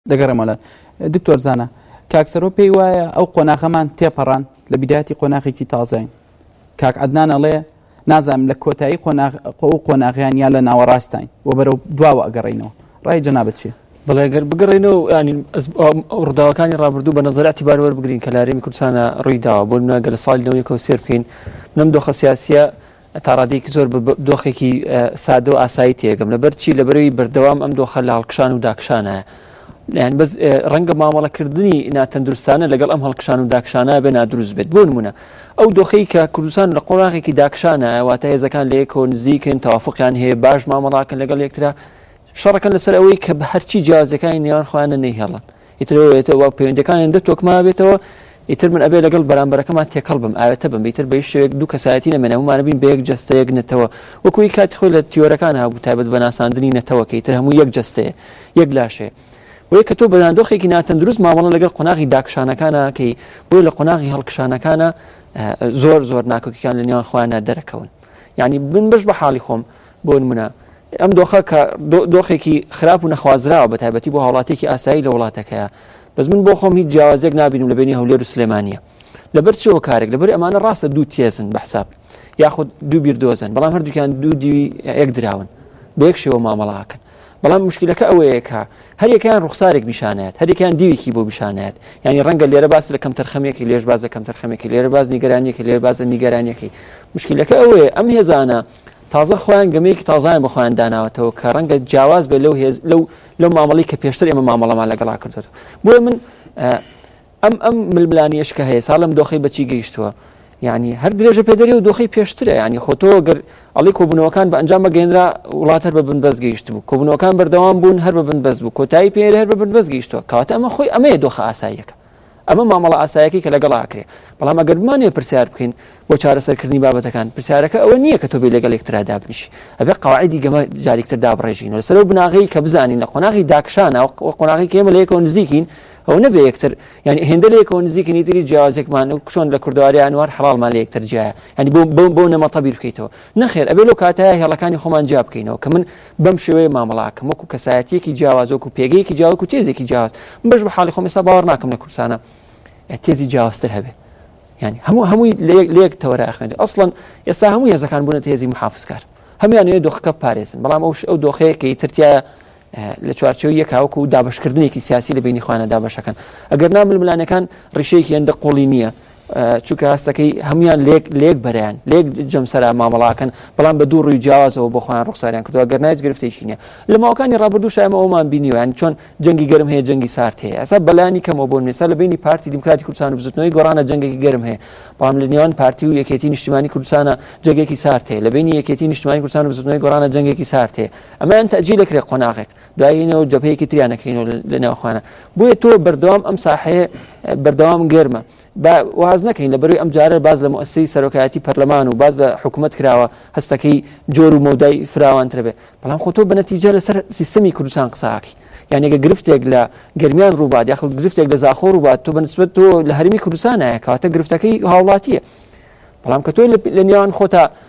دەگەڕێمەوە لات دکتۆر زانا. کاک سەرۆ پێی وایە ئەو قۆناغەمان تێپەڕان لە بیدایەتی قۆناغێکی تازەین کاک عدنان ئەڵێ نازانم لە کۆتایی قۆناغ قۆ و قۆناغیان یا لە ناوەڕاستین و بەرەو دواوە ئەگەڕینەوە ڕای جەنابت چیە بەڵێ گەر بگەڕێنەوە و ینی ئەز ئەم ئەو ڕووداوەکانی ڕابردوو بە نەزەر ئەتیبار وەربگرین کە لە هەرێمی کوردستانا ڕووی داوە بۆ نمونە گەر لە ساڵی لەوەی کەوت سێر بکەین نەم دۆخە سیاسییە تا ڕادەیەکی زۆر بە دۆخێکی سادە و ئاسایی تێگەم لەبەر چی لەبەرەوەی بەردەوام ئەم دۆخە لە هەڵکشان و داکشانە یان بەس ڕەنگە مامەڵەکردنی ناتەندروستانە لەگەڵ ئەم هەڵکشان و داکشانە بێ نادروست بێت بۆ نمونە ئەو دۆخەی کە کوردستان لە قۆناغێکی داکشانە واتە هێزەکان لە یەکۆ نزیکن تەوافقیان هەیە باش مامەڵاکەن لەگەڵ یەکترا شەڕەکەن لەسەر ئەوەی کە بە هەرچی جیازەکانی نێوان خۆیانە نەیهێڵن ئیتر ئەوە یەتە وا پەیوەندیەکانیان دە تۆکمە بێتەوە ئیتر من ئەبێ لەگەڵ بەرامبەرەکەمان تێکەڵ بم ئاوێتە بم ئیتر بەیش شوێک دوو کەسایەتی نەمێنێ هەموومانە بین بە یەک جەستە یەک نەتەوە وەکو هی کاتی خۆی لە تیۆرەکان هەبوو تایبەت بە ناساندنی نەتەوەکە ئیتر هەموو یەک جەستەیە یەک لاشەیە بۆیە کە تۆ بەداندۆخێکی ناتەندروست مامەڵە لەگەڵ قۆناغی داکشانەکانە کەی بۆی لە قۆناغی هەڵکشانەکانە زۆر زۆر ناکۆکیکان لە نێوان خۆیانە دەرەکەون یعنی بن بەش بە حاڵی خۆم بۆنمونە ئەم دۆخە کە دۆخێکی خراپ و نەخوازراوە بە تایبەتی بۆ هاوڵاتێکی ئاسایی لە وڵاتەکەیە بەس من بۆ خۆم هیچ جیاوازێک نبینم لە بینی هەولێر و سلێمانە لەبەر چەوە کارێک لەبەر ئەمانە ڕاستە دوو تێزن بە حساب یاخود دوو بیر دۆزن بەڵام هەردووکیان دوو دیوی یەک دراون بە یەک شێوە مامەڵاکەن بەڵام مشکلەکە ئەوەیەکە هەریەکەیان ڕوخسارێک پیشانات هەریەکان دیوێکی بۆ پیشانات ینی ڕەنگە لێرە باس لە کەم تەرخەمێکی لێش باز لە کەم تەرخەمێکی لێرە باز نیگەرانیەکە لێر باز لە نیگەرانیەکەی مشکلەکە ئەوەیە ئەم هێزانە تازە خۆیان گەمەیەکی تازەیان بۆ خۆیان داناوەتەوە کە ڕەنگە جیاواز بێت لەو هێز لەو لەو مامەڵەی کە پێشتر ئێمە مامەڵەمان لەگەڵا کردوێتەوە بۆیە من ئەم ئەم ململانیش کە هەیە سا لەم دۆخی بەچی گەیشتووە یعنی هەر درێژە پێدەری و دۆخی پێشترە ینی خۆتۆ گەر ئەڵی کۆبوونەوەکان بە ئەنجام بەگەێنرا وڵات هەر بە بن بەس گەیشت بوو کۆبوونەوەکان بەردەوام بوون هەر بە بن بەس بوو کۆتایی پێێر هەر بە بن بەس گەیشتووە کاتە ئەمە خۆی ئەمەیە دۆخە ئاساییەکە ئەمە مامەڵە ئاسایەکەی کە لەگەڵا ئەکرێ، بەڵام ئەگەر بمانەوێ پرسیار بکەین بۆ چارەسەر کردنی بابەتەکان، پرسیارەکە ئەوە نییە کە تۆ بێی لەگەڵ یەکترا دابنیشی، ئەبێ قەواعیدی گەمە جاریک تر دابڕێژین و لەسەر ئەو بناغەی کە بزانین لە قۆناغی داکشانا و قۆناغی کە ئێمە لە یەکەوە نزیکین ئەوە نەبێ یەکتر یانی هێندە لە یەکەوە نزیکین هیتر هیچ جیاوازێکمان و چۆن لە کوردەواری ئانوار حەڵاڵمان لە یەکتر جیایە یانی بەو بەو بەو نەمەتە بیر بکەیتەوە نەخێر ئەبێ لەو کاتەیە هێڵەکانی خۆمان جیا بکەینەوە کە من بەم شێوەیە مامەڵە ئەکەم وەکو کەسایەتیەکی جیاواز وەکو پێگەیەکی جیاواز وەکو تێزێکی جیاواز من بەش بە حاڵی خۆم ئێستا باوەڕ ناکەم لە کوردستانە تێزی جیاوازتر هەبێت یعنی هەموو هەمووی لێک تەوەرە ئەخوێنێت ئەسڵەن ئێستا هەموو هێزەکان بوونە هێزی محافزکار هەمویانەیە دۆخەکە پارێزن بەڵام ئەوش ئەو دۆخەیەکەی ترتیە لە چوارچەوە یەکاوەکو و دابشکردنێکی سیاسی لە بینی خوانە دابشەکەن ئەگەر نامل ملانەکان ڕیشەیەکی هەندە قۆڵی نییە چونکە هەستەکەی هەموان لێک لێک بەرەیان لێک جەمسەرا مامەڵاکەن بەڵام بە دوو ڕووی جیاوازەوە بۆ خۆیان ڕوخساریان کردووە گەر نایت گرفتێکی نیە لە ماوەکانی ڕابردوو شایمە ئەومان بینیویان چۆن جەنگی گەرم هەیە جەنگی سارد هەیە ئەسا بەلانی کەمەوە بۆن نێسا لە بینی پارتی دیموکراتی کوردستان و بزوتنەوەی گۆڕانە جەنگێکی گەرم هەیە بەڵام لە نێوان پارتی و یەکێتی نیشتیمانی کوردستانە جەنگێکی سارد هەیە لە بینی یەکێتی نیشتیمانی کوردستان و بزوتنەوەی گۆڕانە جەنگێکی سارد هەیە ئەمەیان تەجیلەکرێ قۆناغێک دایینەوە و جەبهەیەکی تریان نەکەینەوە لە ناوخانە بۆیە تۆ بەردەوام ئەم ساحەیە بەردەوام گەرمە با واز نەکەین لە بەروی ئەم جارە باز لە مؤسی سەرۆکایەتی پەرلەمان و باز لە حکوومەت کراوە هەستەکەی جۆر و مەودای فراوانتر بێ بەڵام خۆ تۆ بەنەتیجە لەسەر سیستەمی کوردستان قساکی یانێگە گرفتێک لە گرمیان ڕووبات یاخل گرفتێک لە زاخۆ ڕووبات تۆ بەنسبت تۆ لە هەرمی کوردستانە کاتە گرفتەکەی هاوڵاتیە بەڵام کە تۆ لە نێوان خۆتا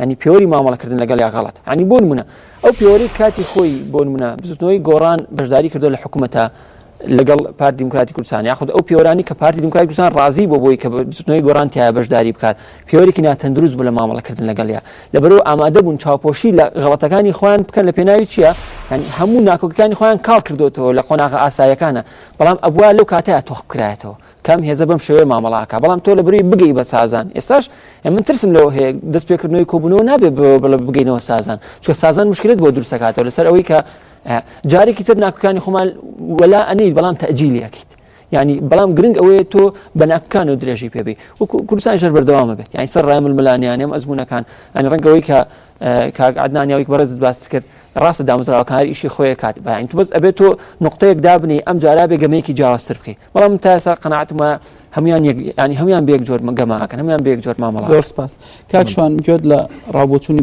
یانی پێوەری مامەڵە کردن لەگەڵ یا غەڵەت ینی بۆ نمونە ئەو پێوەری کاتی خۆی بۆ نمونە بزوتنەوەی گۆڕان بەشداری کردو لە حکوومەتە لەگەڵ پارت دیموکراتی کوردستان یاخود ئەو پێوەرانی کە پارتی دیموکراتی کوردستان ڕازی بۆ بۆی کە بزوتنەوەی گۆڕان تیا بەشداری بکات پێوەرێکی ناتەندروست بوو لە مامەڵەکردن لەگەڵیا لەبەرەوە ئامادە بوون چاوپۆشی لە غڵەتەکانی خۆیان بکەن لە پێناوی چییە یعنی هەموو ناکۆکەکانی خۆیان کاڵ کردوتەوە لە قۆناغە ئاسایەکانە بەڵام ئەبوا لەو کاتەیە تۆخ بکرایەتەوە کام هێزە بەم شێوەیە مامەڵە ئەکا بەڵام تۆ لە بروی بگەی بە سازان ئێستاش من ترسم لەوە هەیە دەست پێکردنەوەی کۆبونەوە نابێ بڵێ بگەینەوە سازان چکە سازان مشکلت بۆ دروست دەکاتەوە لەسەر ئەوەی کە جارێکی تر ناکوکانی خۆمان وەلا ئەنیت بەڵام تەجیلیەکەیت ینی بەڵام گرنگ ئەوەیە تۆ بە ناکان و درێژی پێبی و کوردستان ژەر بەردەوامە بێت یانی سەر ڕام ملانیانم ئەزمونونەکان ئەنی ڕەنگەوەی کە کاک عدنانیاوی بەڕێزت باس کرد ڕاستە دامزراوەکان ئیشی خۆیە کات بەین تو بەس ئەبێت تۆ نقطەیەک دابنی ئەم جارا بێگەمەیەکی جیاوازتر بکەیت بەڵام من تا ئێستا قەناعەتم وایە هەموان یعنی هەموان بێک جۆر گەماکەن هەموان بێک جۆر مامەڵە زۆر سپاس کاکشوان گوێت لە ڕاوبۆچوونی